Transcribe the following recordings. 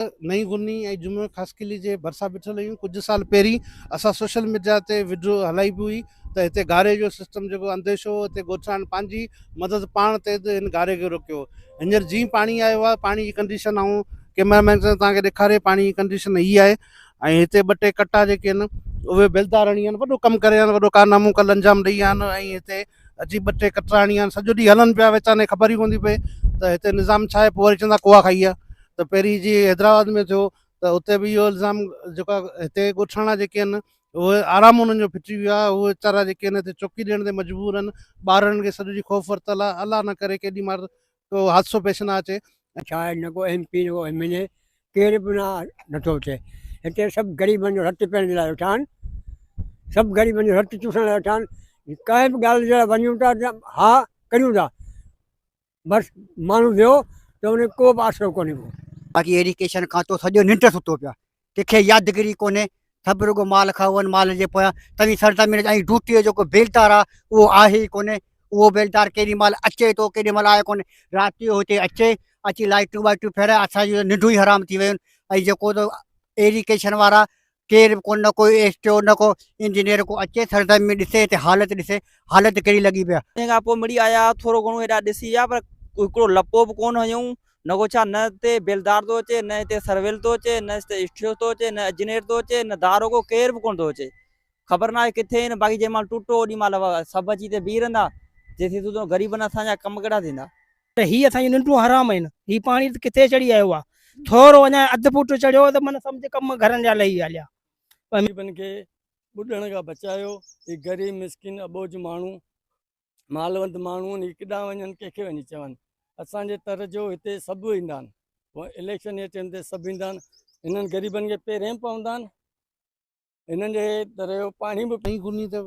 نئين غني ۽ جمعه خاصخيلي جي ڀرسان بيٺل هيون ڪجهه سال پهرين اسان سوشل ميڊيا تي وڊيو هلائي به هئي ته هتي گاري جو سسٽم جيڪو انديشو هو هتي ڳوٺاڻن پنهنجي مدد پاڻ تي ته هن گاري کي روڪيو هينئر جيئن پاڻي آيو آهي پاڻي جي ڪنڊيشن آئون ڪيمرا مين سان توهان کي ڏيکاري پاڻي جي ڪنڊيشن هي آهي ۽ هتي ٻه ٽي ڪٽا جيڪي آهن اهي بيلدارڻي آهن وڏو ڪم ڪري آهن وڏو ڪارنامو ڪل انجام ڏئي آهن ۽ هتي اچي ٻه ٽي ڪٽرا هڻي ويا سڄو ڏينهن هلن پيا ويچارن کي خبر ئي ڪونه ٿي پئي ته هتي نظام ڇا آهي پوء وري چوندا ڪوئا کائي ويا ته پهرين جي حيدرآباد ۾ ٿيو ته اتي به اهو الزام جيڪو آهي هتي ڳوٺاڻا جيڪي آهن اهي آرام انهن جو ڦٽي ويو آهي اهي ويچارا جيڪي آهن هتي چوڪي ڏيڻ تي مجبور آهن ٻارڙن کي سڄو ڏينهن خوف ورتل آهي الله نه ڪري ڪيڏي مهل ڪو حادثو پيش نه اچي. ڇا آهي نه ڪو ايم پي نه ڪو ايم اين اي ڪير به نٿو اچي هتي سڀ غريبن جو رت پيئڻ جي لاء ويٺا آهن سڀ غريبن جو رت چوسڻ لاء ويٺا آهن ڪنهن به ڳالهه جي لاء وڃون ٿا ها ڪريون ٿا بس ماڻهو ويو ته ان ڪو به آسرو ڪونهي ڪو باقي ايڊيوڪيشن کان تو سڄو ننڊ ستو پيو ڪنهن کي يادگيري ڪونهي، سڀ رڳو مال کائون مال جي پويان، توهين سرزمين جا ۽ ڊوٽي جو ڪو بيلدار آ اهو آهي ئي ڪونهي، اهو بيلدار ڪيڏي مال اچي ٿو ڪيڏي مال آهي ڪونهي، رات جو هتي اچي اچي لائٽون وائٽون ڦيرائي اسان جون ته ننڊون ئي حرام ٿي ويون ۽ جيڪو ته ايريڪيشن وارا ڪير به ڪونهه نه ڪو ايس ٽي او نه ڪو انجنيئر ڪو اچي سرزمين ۾ ڏسي هتي حالت ڏسي حالت ڪهڙي لڳي پئي آ. تنهن کان پوء مڙي آيا ٿورو گهڻو هيڏا ڏسي ويا پر هڪڙو لپو به ڪونهه هنيون نگو ڇا نه هتي بيلدار ٿو اچي نه هتي سرويل ٿو اچي نه هتي اشٺيو ٿو اچي نه اجنير ٿو اچي نه داروغو ڪير به ڪونه ٿو اچي خبر ناهي ڪٿي آهن باقي جنهن مهل ٽوٽو اوڏي مهل سڀ اچي هتي بيهي رهندا جي ٿي سوڌو غريبن اسان جا ڪم ڪهڙا ٿيندا ته هي اسان جون ننڊون حرام آهن هي پاڻي ته ڪٿي چڙهي آيو آهي ٿورو اڃا اڌ فوٽ چڙهيو ته من سمجهه ڪم گهرن جا لهي هليا غريبن کي ٻڏڻ کان بچايو هي غريب مسڪين اٻوجهه ماڻهو مالوند ماڻهو ني ڪيڏانهن وڃن ڪنهن کي وڃي چون اسان جي تر جو هتي سڀ ايندا آهن پوء اليڪشن جي ٽيم تي سڀ ايندا آهن انهن غريبن کي پهرين پوندا آهن انهن جي در جو پاڻي به ۽ گني ته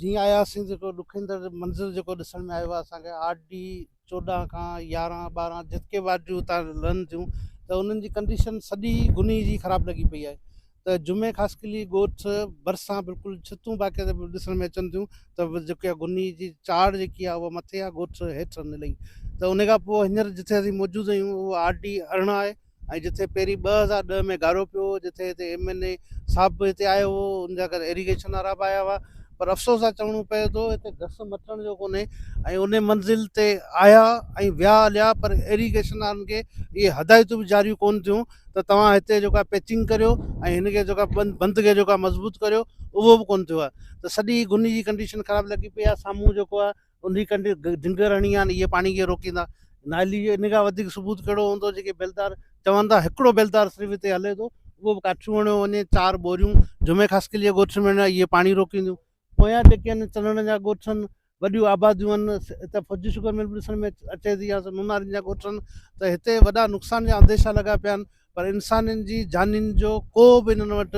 جيئن آياسين جيڪو ڏکندڙ منظر جيڪو ڏسڻ ۾ آيو آهي اسان کي آر ڊي چوڏهن کان يارهن ٻارهن جتڪي وارڊ جون اتان لهن ٿيون ته انهن جي ڪنڊيشن سڄي گني جي خراب لڳي پئي آهي ته جمعي خاصخيلي ڳوٺ ڀرسان بلڪل ڇتون باقي ڏسڻ ۾ اچن ٿيون ته جيڪا گني جي چاڙهه جيڪي آهي اها مٿي آهي ڳوٺ هيٺ نلئي ته ان کان پوء هينئر جتي اسين موجود آهيون اهو آر ڊي ارڙهن آهي ۽ جتي پهرين ٻه هزار ڏهه ۾ گارو پيو هو جتي هتي ايم اين اي صاحب به هتي آيو هو ان جا ڪري ايريگيشن وارا به آيا هئا پر افسوس سان چوڻو پئي ٿو هتي گس مٽڻ جو ڪونهي ۽ ان منزل تي آيا ۽ ويا هليا پر ايريگيشن وارن کي اهي هدايتون به جاريون ڪون ٿيون ته توهان هتي جيڪا پيچنگ ڪريو ۽ هن کي جيڪا بند بند کي جيڪا مضبوط ڪريو اهو به ڪون ٿيو آهي ته سڄي گني جي ڪنڊيشن خراب لڳي پئي آهي سامهون جيڪو آهي انهيء ڪنڊ ڊنگر هڻي آن اهي پاڻي کي روڪيندا. نالي جي ان کان وڌيڪ ثبوت ڪهڙو هوندو جيڪي بيلدار چون ٿا. هڪڙو بيلدار صرف هتي هلي ٿو اهو به ڪاٺيون هڻيو وڃي چار ٻوريون جمعي خاصخيلي جي ڳوٺ ۾ هڻي اهي پاڻي روڪينديون. پويان جيڪي آهن چنڙن جا ڳوٺ آهن وڏيون آباديون آهن هتي فوجي شگر مل به ڏسڻ ۾ اچي ٿي يا نونارين جا ڳوٺ آهن ته هتي وڏا نقصان جا انديشا لڳا پيا آهن پر انسانن جي جانين جو ڪو به انهن وٽ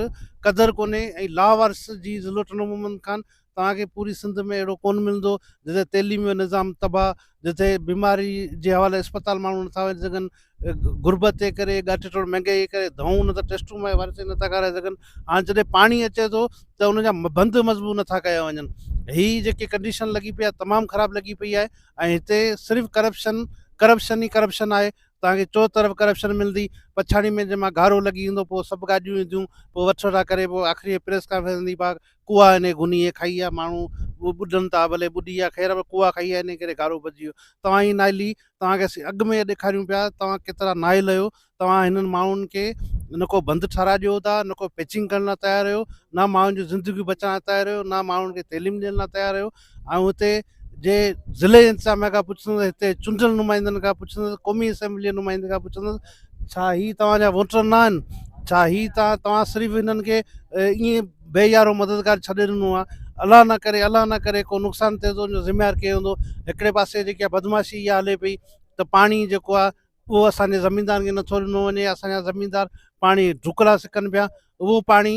قدر ڪونهي ۽ لاوارث جي ضلوٽن عمومن کان توهان کي پوري سنڌ ۾ اهڙو ڪونه ملندو جتي تعليم جو نظام تباهه، جتي بيماري جي حوالي اسپتال ماڻهو نٿا وڃي سگهن، غربت جي ڪري ڳاٺ ٽوڙ مهنگائي جي ڪري دوائون نه ته ٽيسٽون ماء وارث ئي نٿا کارائي سگهن. هاڻ جڏهن پاڻي اچي ٿو ته ان جا بند مضبوط نٿا ڪيا وڃن. هي جيڪي ڪنڊيشن لڳي پئي آهي تمام خراب لڳي پئي آهي ۽ هتي صرف ڪرپشن ڪرپشن ئي ڪرپشن آهي. توهان کي چو طرف ڪرپشن ملندي. پڇاڙي ۾ جنهن مهل گهارو لڳي ويندو پوء سڀ گاڏيون اينديون پوء وٺ وٺا ڪري پوء آخري پريس ڪانفرنس ۾ ڀاڪ ڪوئا انهي گني هي کائي آ ماڻهو ٻڏن ٿا ڀلي ٻڏي آ خير پر ڪوئا کائي آ انهي ڪري گارو بچجي ويو توهان هي ناهلي توهان کي اسين اڳ ۾ هي ڏيکاريون پيا توهان ڪيترا ناهل آهيو توهان هنن ماڻهن کي نه ڪو بند ٺهرائي ڏيو ٿا نه ڪو پيچنگ ڪرڻ لاء تيار آهيو نه ماڻهن جون زندگيون بچائڻ لاء تيار آهيو نه ماڻهن کي تعليم ڏيڻ لاء تيار آهيو آئون هتي جي ضلعي انتظاميا کان پڇندس هتي چونڊيل نمائندن کان پڇندس قومي اسيمبلي جي نمائندن کان پڇندس ڇا هي توهان جا ووٽر نه آهن ڇا هي توهان توهان صرف هنن کي ائين بي يارو مددگار ڇڏي ڏنو آهي الله نه ڪري الله نه ڪري ڪو نقصان ٿئي ٿو ان جو ذميوار ڪير هوندو هڪڙي پاسي جيڪي بدماشي اها هلي پئي ته پاڻي جيڪو آهي اهو اسان جي زميندارن کي نٿو ڏنو وڃي اسان جا زميندار پاڻي ڍڪرا سڪن پيا اهو پاڻي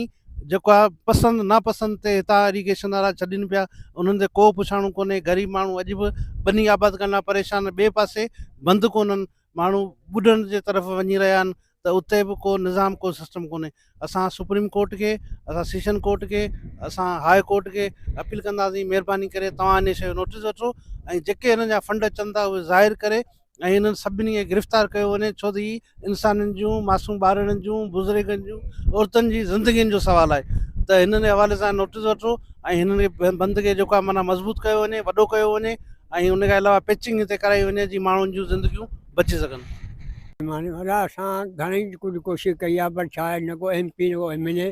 جيڪو آهي پسند ناپسند تي هتان اريگيشن وارا ڇڏين پيا انهن تي ڪو پڇاڻو ڪونهي غريب ماڻهو اڄ به ٻني آباد ڪرڻ لاء پريشان ٻئي پاسي بند ڪونهن ماڻهو ٻڏڻ جي طرف وڃي رهيا آهن ته اتي به ڪو نظام ڪو سسٽم ڪونهي اسان سپريم ڪورٽ کي اسان سيشن ڪورٽ کي اسان هاء ڪورٽ کي اپيل ڪنداسين مهرباني ڪري توهان ان شي جو نوٽيس وٺو ۽ جيڪي هن جا فنڊ اچن ٿا اهي ظاهر ڪري ۽ انهن سڀني کي گرفتار ڪيو وڃي ڇو ته هي انسانن جون معصوم ٻارڙن جون بزرگن جون عورتن جي زندگين جو سوال آهي ته هنن جي حوالي سان نوٽيس وٺو ۽ هنن کي بند کي جيڪو آهي معنيٰ مضبوط ڪيو وڃي وڏو ڪيو وڃي ۽ ان کان علاوه پيچنگ هتي ڪرائي وڃي جي ماڻهن جون زندگيون بچي سگهن معني وڏا اسان گهڻي ڪجهه ڪوشش ڪئي آهي پر ڇا آهي نه ڪو ايم پي نه ڪو ايم اين اي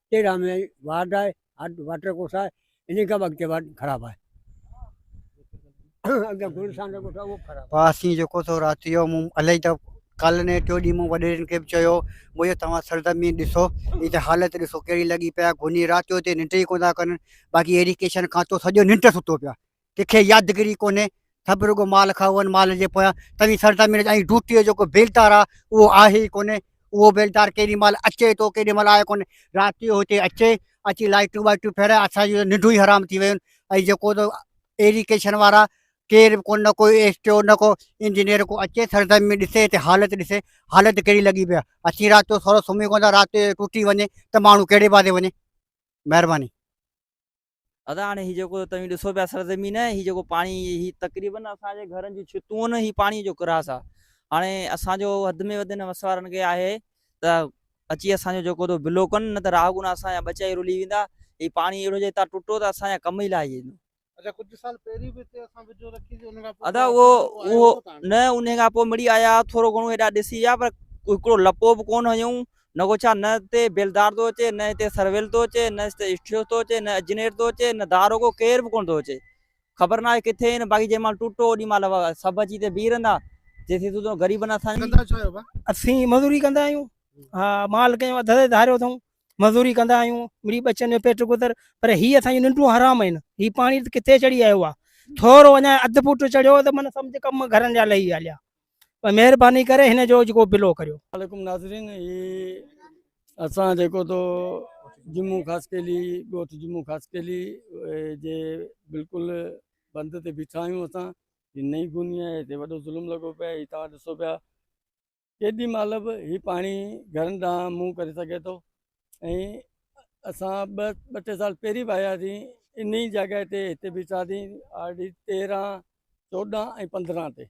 تيرهن مين وارڊ آهي هاٽ واٽر ڪورس آهي انهي کان به اڳتي وارڊ خراب آهي اڳتي گلشان جو ڳوٺ آهي اهو به خراب پاسي جيڪو سو رات جو مون الائي ته ڪالهه نه ٽيو ڏينهن مون وڏيرن کي به چيو مون چيو توهان سرزمين ڏسو هي ته حالت ڏسو ڪهڙي لڳي پيا گهني رات جو هتي ننڊ ئي ڪونه ٿا ڪن باقي ايريڪيشن کاتو سڄو ننڊ ته ستو پيو ڪنکي يادگيري ڪونهي سڀ رڳو مال کائون مال جي پويان توي سردا مينج ۽ ڊوٽي جيڪو بيلدار آ اهو آهي ئي ڪونهي اهو بيلدار ڪيڏي مال اچي ٿو ڪيڏي مال آهي ڪونهي رات جو هتي اچي اچي لائٽون وائٽون ڦيرائي اسان جون ننڊون ئي حرام ٿي ويون ۽ جيڪو ايريڪيشن وارا ڪير به ڪو نه ڪو ايس ٽي او نه ڪو انجنيئر ڪو اچي سردا مينج ڏسي هتي حالت ڏسي حالت ڪهڙي لڳي پيا اچي رات جو سورو سمهي ڪون ٿا رات جو ٽوٽي وڃي ته ماڻهو ڪهڙي بازي وڃي مهرباني ادا هاڻي هي جيڪو توهين ڏسو پيا سرزمين هي جيڪو پاڻي هي تقريبن اسان جي گهرن جون ڇتون هي پاڻي جو ڪراس آ هاڻي اسان جو حد ۾ وڌ هن وسوارن کي آهي ته اچي اسان جو جيڪو تو بلو ڪن نه ته راهه گنا اسان جا ٻچا ئي رلي ويندا هي پاڻي اهڙو جي هتان ٽٽو ته اسان جا ڪم ئي لائجي ويندو اچا ڪجهه سال پهرين به هتي اسان ويڊيو رکي سي ان کان پوء ادا اهو اهو نه ان کان پوء مڙي آيا ٿورو گهڻو هيڏا ڏسي ويا پر هڪڙو لپو به ڪون هنيون نگو ڇا نه هتي بيلدار ٿو اچي، نه هتي سرويل ٿو اچي، نه هتي اسٽيوس ٿو اچي، نه اجنير ٿو اچي، نه داروغو، ڪير به ڪونه ٿو اچي. خبر ناهي ڪٿي آهن، باقي جنهن مهل ٽوٽو اوڏي مهل سڀ اچي هتي بيهي رهندا، جيسين تون تون غريبن اسان جي. ڪندا ڇا آهيو ڀا؟ اسين مزوري ڪندا آهيون. ها مال ڪيون اڌ اڌ ڌاريو اٿئون. مزوري ڪندا آهيون، مڙئي ٻچن جو پيٽ گذر، پر هي اسان جون ننڊون حرام آهن. هي پاڻي ته ڪٿي چڙهي آيو آ. ٿورو اڃا اڌ فوٽ چڙهيو ته من سمجهه ڪم گهرن جا لهي هليا. پر مهرباني ڪري هن جو جيڪو بلو ڪريو عليڪم ناظرين هي اسان جيڪو تو جمو خاصيلي ڳوٺ جمو خاصيلي جي بلڪل بند تي بيٺا آهيون اسان هي نئي گوني آهي هتي وڏو ظلم لڳو پيو هي توهان ڏسو پيا ڪيڏي مال به هي پاڻي گهرن ڏانهن منهن ڪري سگهي ٿو ۽ اسان ٻه ٻه ٽي سال پهرين به آياسين ان جڳهه تي هتي بيٺاسين آر ڊي تيرهن چوڏهن ۽ پندرهن تي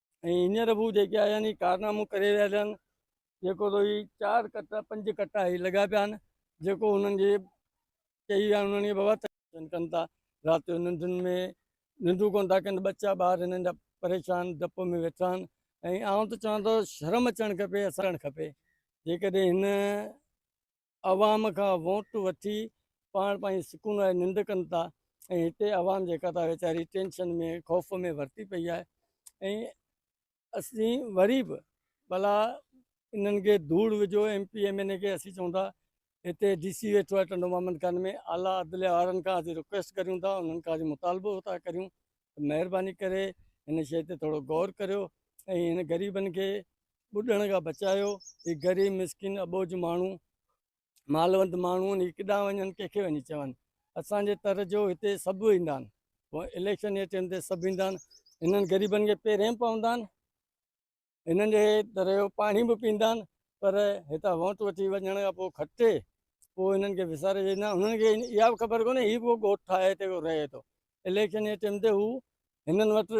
۽ هينئر به هو جيڪي آيا آهن ڪارنامو ڪري رهيا آهن جيڪو تو هي چار ڪٽا پنج ڪٽا هي لڳا پيا آهن جيڪو هنن جي چئي ويا آهن هنن کي بابا ڪن ٿا رات جو ننڊن ۾ ننڊون ڪون ٿا ڪن ٻچا ٻار هنن جا پريشان ڊپ ۾ ويٺا آهن ۽ آئون ته چوان ٿو شرم اچڻ کپي اسان کپي جيڪڏهن هن عوام کان ووٽ وٺي پاڻ پنهنجي سڪون واري ننڊ ڪن ٿا ۽ هتي عوام جيڪا ته ويچاري ٽينشن ۾ خوف ۾ ورتي پئي آهي ۽ اسين وري به ڀلا انهن کي ڌوڙ وجھو M P M N A کي اسين چون ٿا هتي ڊي سي ويٺو آهي ٽنڊو محمد خان ۾ اعليٰ عدليه وارن کان اسين رڪويسٽ ڪريون ٿا انهن کان اسين مطالبو ٿا ڪريون مهرباني ڪري هن شيء تي ٿورو غور ڪريو ۽ هن غريبن کي ٻڏڻ کان بچايو هي غريب مسڪين اٻوجھ ماڻهو مالوند ماڻهو هي ڪيڏانهن وڃن ڪنهن کي وڃي چون اسان جي تر جو هتي سڀ ايندا آهن پوء اليڪشن جي ٽيم تي سڀ ايندا آهن هنن غريبن کي پيرين پوندا آهن هنن جي در جو پاڻي به پيندا آهن پر هتان ووٽ وٺي وڃڻ کان پوء کٽي پوء هنن کي وساري ويندا آهن هنن کي اها به خبر ڪونهي هي به ڳوٺ ٺاهي هتي رهي ٿو اليڪشن جي ٽيم تي هو هنن وٽ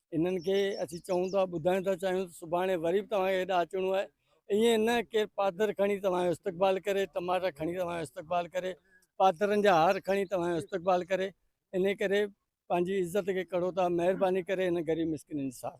انهن کي اسين چئون ٿا ٻڌائڻ ٿا چاهيون ته سڀاڻي وري به توهان کي هيڏا اچڻو آهي ائين نه ڪير پادر کڻي توهان جو استقبال ڪري ٽماٽا کڻي توهان جو استقبال ڪري پادرن جا هار کڻي توهان جو استقبال ڪري ان ڪري پنهنجي عزت کي ڪڙو ٿا مهرباني ڪري هن غريب مسڪينن جي ساٿ